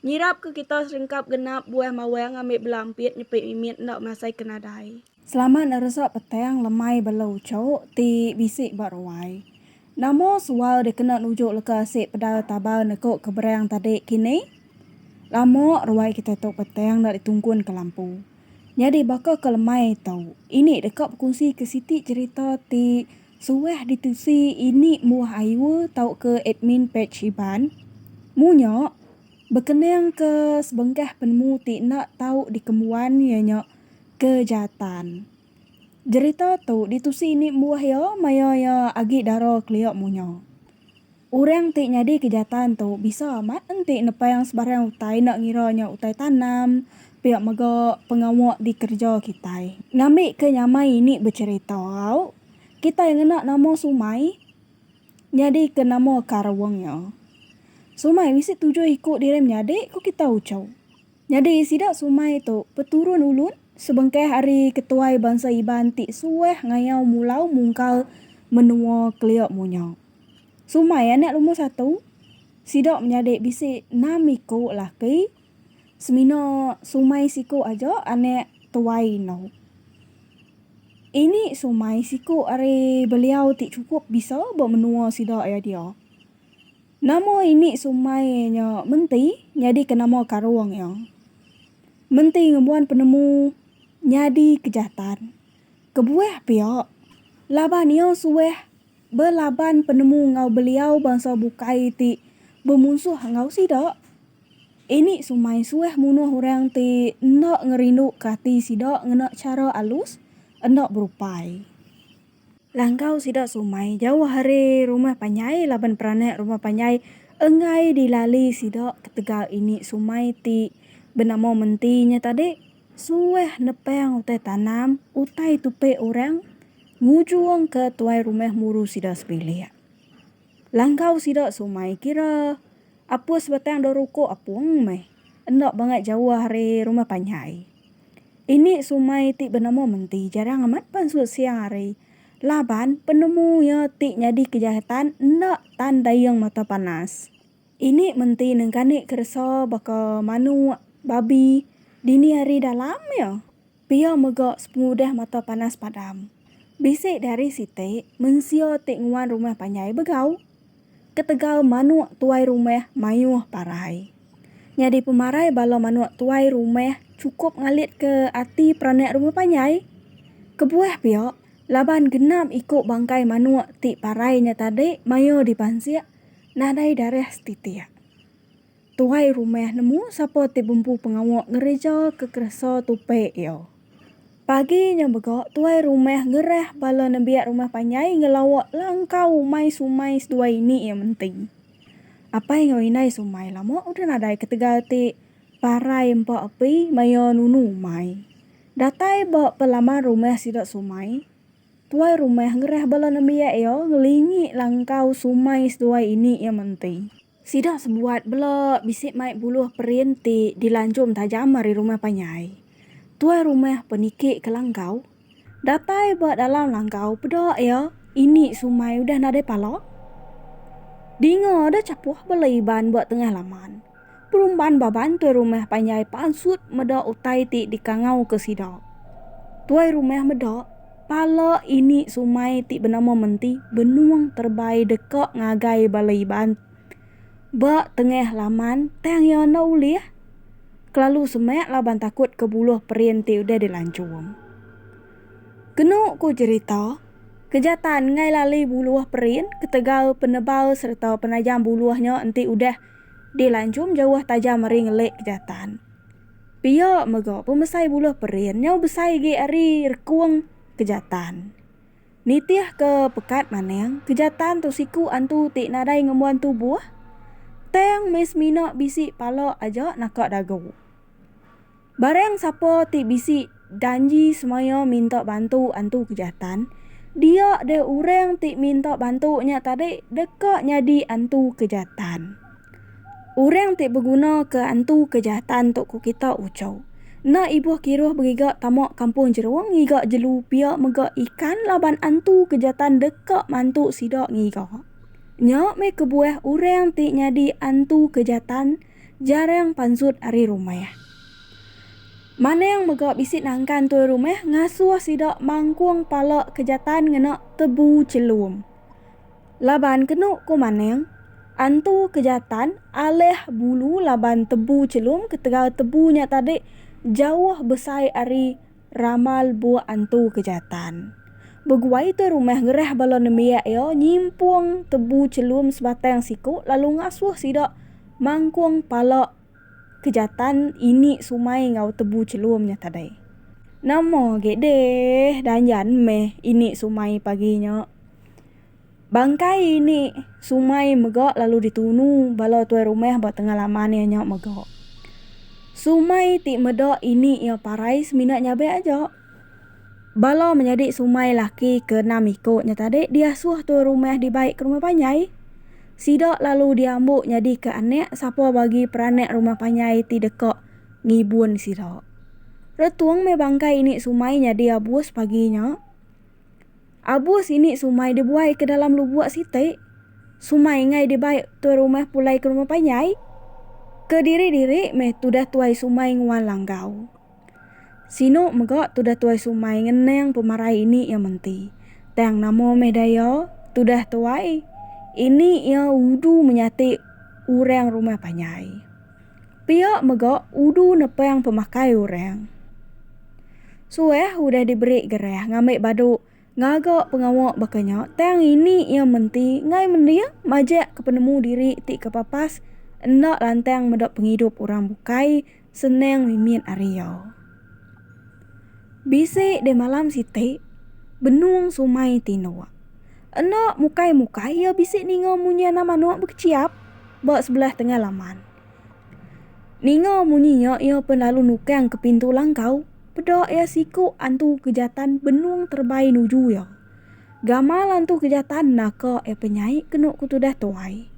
Nyirapka kita serengkap genap buah mawang ambi bela ampit nyepit mimit enda masai ke nadai. Selamat neresa petang lemai bela uchu ti bisi ba ruai. Nama sual dikena nuju leka asi pedau tabar neku ke berang tadi kini? Lama ruai kita tu petang enda ditungkun ke lampu. Nyadi baka ke lemai tu, ini deka bekunsi ke siti cherita ti. Suah ditusi ini muah ayu tauka admin page Iban. Munyo, bekenangka sebengkah penemu ti enda tau dikembuan iya nya kejahatan. Jerita tu ditusi ini muah iya maya iya agi dara kelia munyo. Orang ti nyadika jatan tu bisa amat enti nepang sebarang utai enda ngira nya utai tanam, pia mega pengawa dikereja kitai. Ngambika nyamai ini becherita au, kitai ngena nama Sumai nyadika nama Kareweng nya. Sumai bisi tujuh iku diri menyadi, ku kitai uchu. Nyadi sida sumai tu peturun ulun sebengkah ari ketuai bansa Iban ti suah ngayau mulau mungkal menua Keliok Munya. Sumai anak lumur satu, sida menyadi bisi enam iku laki semina sumai siku aja anak tuai endur. Ini sumai siku ari beliau ti chukup bisa ba menua sida iya dia. Nama ini sumai nya menti nyadika nama karung iya? Menti ngembuan penemu nyadi kejatan. Kebuah pia, laban iya suah belaban penemu enggau beliau bansa bukai ti bemunsuh enggau sida, ini sumai suah munuh orang ti enda ngerinduka ati sida ngena chara alus, enda berupai. Langgau sida sumai jauh ari rumah panjai laban peranak rumah panjai enggai dilali sida ketegal ini sumai ti benama menti nya tadi suah nepang utai tanam utai tupi orang ngujung ke tuai rumah muru sida sebilik. Langgau sida sumai kira apus batang da ruko apung meh enda bangat jauh ari rumah panjai. Ini sumai ti benemu menti jarang amat pan sut siang hari laban penemu iya ti nyadi kejahatan enda tan dayeng mata panas. Ini menti nengkani keresa baka manok, babi dini hari dalam iya pia mega sepengudah mata panas padam. Bisi dari siti mensia ti nguan rumah panjai begau. Ketegal manuk tuai rumah mayuh parai. Nyadi pemarai bala manuk tuai rumah chukup ngalitka ati peranak rumah panjai. Kebuah pia, laban genap iku bangkai manuk ti parai nya tadi mayuh dipansik nadai darah setitik. Tuai rumah nemu sapa ti bempu pengawa ngereja kekeresa tupi iya. Pagi nya mega tuai rumah ngerah bala nembiak rumah panjai ngelawa langkau mai sumai seduai ini iya menti. Apai enggau indai sumai lama udah nadai ketegal ti parai empa api maya nunu umai. Datai ba pelaman rumah sida sumai, tuai rumah ngerah bala nembiak iya ngelingi langkau sumai seduai ini iya menti. Sida sebuat bela bisi mai buluh perin ti dilanjum tajam ari rumah panjai. Tuai rumah pe niki ke langgau. Datai ba dalam langgau peda iya ini sumai udah nadai pala. Dinga deh chapuh bela Iban ba tengah laman. Perumban baban tuai rumah panjai pansut meda utai ti dikangauka sida. Tuai rumah meda. Pala ini sumai ti benama menti benung terebai deka ngagai bala Iban. Ba tengah laman tang iya enda ulih kelalu semak laban takut ke buluh perin ti udah dilanchung. Kenu ku cherita, keja tan enggai lali buluh perin ketegal penebal sereta penajam buluh nya enti udah dilanchung jauh tajam ari ngelik keja tan. Pia mega, pemesai buluh perin nyau besai agi ari rekung kejatan. Nitihka pekat manang, kejatan tu siku antu ti nadai ngembuan tubuh, tang meh semina bisi pala aja naka dagu. Barang sapa ti bisi. Danji semaya minta bantu antu kejatan, dia deh urang ti minta bantu nya tadi deka nyadi antu kejatan. Urang ti beguna ke antu kejatan tu ku kita uchu. Enda ibuh kiruh begiga tama kampung jerung ngiga jelu pia mega ikan laban antu kejatan deka mantu sida ngiga. Nya meh kebuah urang ti nyadi antu kejatan jarang pansut ari rumah. Maneng mega bisi nangkan tuai rumah ngasuh sida mangkung pala ke jatan ngena tebu chelum. Laban kenu ku Maneng, antu ke jatan alih bulu laban tebu chelum ketegal tebu nya tadi jauh besai ari ramal buh antu ke jatan. Beguai tuai rumah ngerah bala nembiak iya nyimpung tebu chelum sebatang siku lalu ngasuh sida mangkung pala Kejatan ini sumai enggau tebu chelum nya tadai. Nama agi deh danjan meh ini sumai pagi nya. Bangkai ini sumai mega lalu ditunu bala tuai rumah ba tengah laman iya nya mega. Sumai ti meda ini iya parai semina nyabe aja. Bala menyadi sumai laki ke enam iku nya tadi diasuh tuai rumah dibai ke rumah panjai. Sida lalu diambu nyadika anak sapa bagi peranak rumah panjai ti deka ngibun sida. Retung meh bangkai ini sumai nyadi abus pagi nya. Abus ini sumai dibuai ke dalam lubuk siti. Sumai enggai dibai tuai rumah pulai ke rumah panjai. Kediri-diri meh tudah tuai sumai nguan langgau. Sinu mega tudah tuai sumai ngenang pemarai ini iya menti. Tang nama meh daya tudah tuai ini iya udu menyati orang rumah panjai. Pia mega udu nepang pemakai orang. Suah udah diberi gerah ngambi badu. Ngaga pengawa baka nya tang ini iya menti enggai mending majak ke penemu diri ti ke papas enda lantang meda pengidup orang bukai senang mimit ari iya. Bisi deh malam siti benung sumai ti indu. Enda mukai-mukai iya bisi ninga munyi anak manuk bekeciap ba sebelah tengah laman. Ninga munyi nya iya pun lalu nukang ke pintu langkau. Peda iya siku antu kejatan benung terebai nuju iya. Gamal antu kejatan naka iya penyai kenu ku tudah tuai.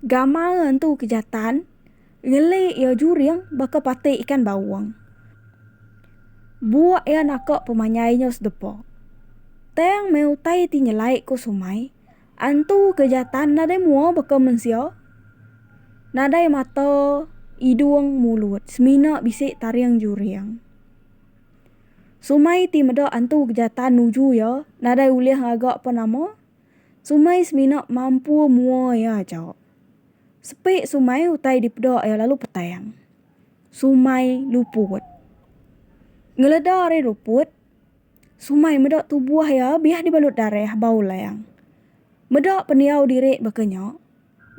Gamal antu kejatan ngeli iya juring baka pati ikan baung. Buk iya naka pemanyai nya sedepa. Tang meh utai ti nyelai ku sumai. Antu ke jatan nadai mua baka mensia, nadai mata, idung, mulut, semina bisi taring juring. Sumai ti meda antu ke jatan nuju iya nadai ulih ngaga apa nama, sumai semina mampu mua iya aja. Sepi sumai utai dipeda iya lalu petang. Sumai luput. Ngeleda ari luput. Sumai meda tubuh iya biah dibalut darah bau lang. Meda pendiau diri baka nya,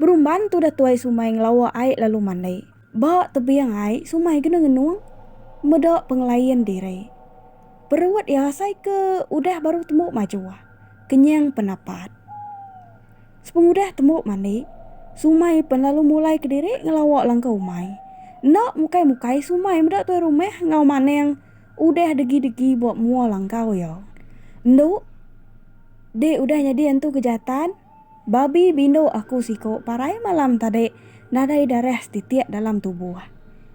berumban tudah tuai Sumai ngelawa ai lalu mandi. Ba tebing ai Sumai kena ngenung meda pengelain diri. Perut iya asai ke udah baru tembu majuh, kenyang penapat. Sepengudah tembu mandi, Sumai pen lalu mulai kediri ngelawa langkau umai. Enda mukai-mukai Sumai meda tuai rumah enggau Manang. Udah degi-degi buat mua langkau iya. Endu. Dik udah nyadi entu ke jatan. Babi bindu aku siko parai malam tadi nadai darah setitik dalam tubuh.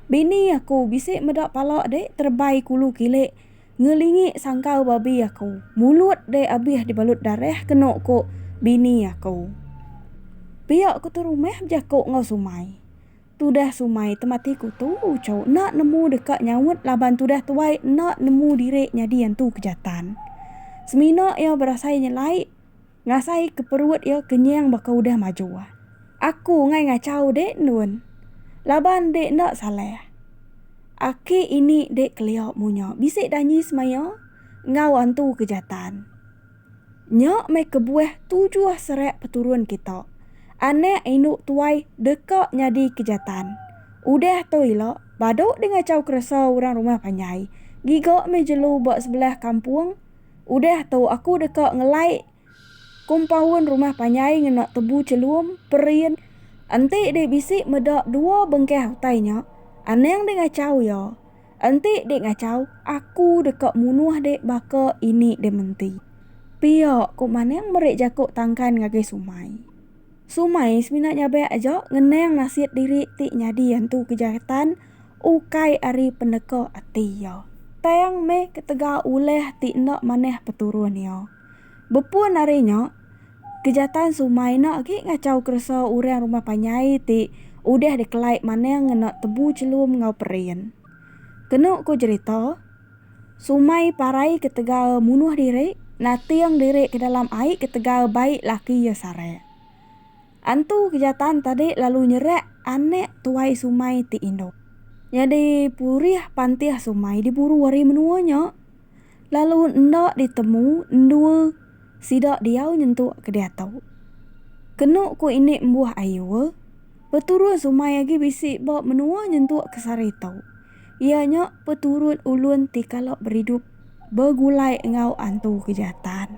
Bini aku bisi meda pala dik terebai kulu kilik ngelingi sangkau babi aku mulut dik abih dibalut darah keno ko bini aku. Pia ketu rumah bejako enggau sumai. Tudah sumai temati ku tu uco enda nemu deka nyaut laban tudah tuai enda nemu diri nyadi antu kejatan. Semina iya berasai nyelai ngasai ke perut iya kenyang baka udah major. Aku ngai ngachau dek endun laban dek enda salah. Aki ini dek kelia munya bisi danyi semaya enggau antu kejatan. Nya meh kebuah tujuh serak peturun kita, anak indu tuai deka nyadi ke jatan. Udah tu ila badu dengachau keresa orang rumah panjai giga meh jelu ba sebelah kampung. Udah tu aku deka ngelai kompaun rumah panjai ngena tebu chelum, perin. Enti deh bisi meda dua bengkah utai nya, anang dengachau iya. Enti dik ngachau, aku deka munuh dik baka ini dik menti. Pia ko Manang meri jako tangkan ngagai Sumai. Sumai semina nyabak aja ngenang nasit diri ti nyadi antu kejahatan ukai ari peneka ati iya, tang meh ketega ulah ti enda manah peturun iya. Bepun ari nya, kejatan sumai enda agi ngachau keresa orang rumah panjai ti udah dikelai manang ngena tebu chelum enggau perin. Kenu ku jerita, sumai parai ketegal munuh diri nating diri ke dalam ai ketegal bai laki iya sarak. Antu Kejatan tadi lalu nyerak anak tuai Sumai ti indu. Nyadi purih pantih Sumai diburu ari menua nya lalu enda ditemu endua sida diau nyentuk ke diatu. Kenu ku ini embuh ayu, peturun Sumai agi bisi ba menua nyentuk ke sehari tu, iya nya peturun ulun ti kala beridup begulai enggau Antu Kejatan.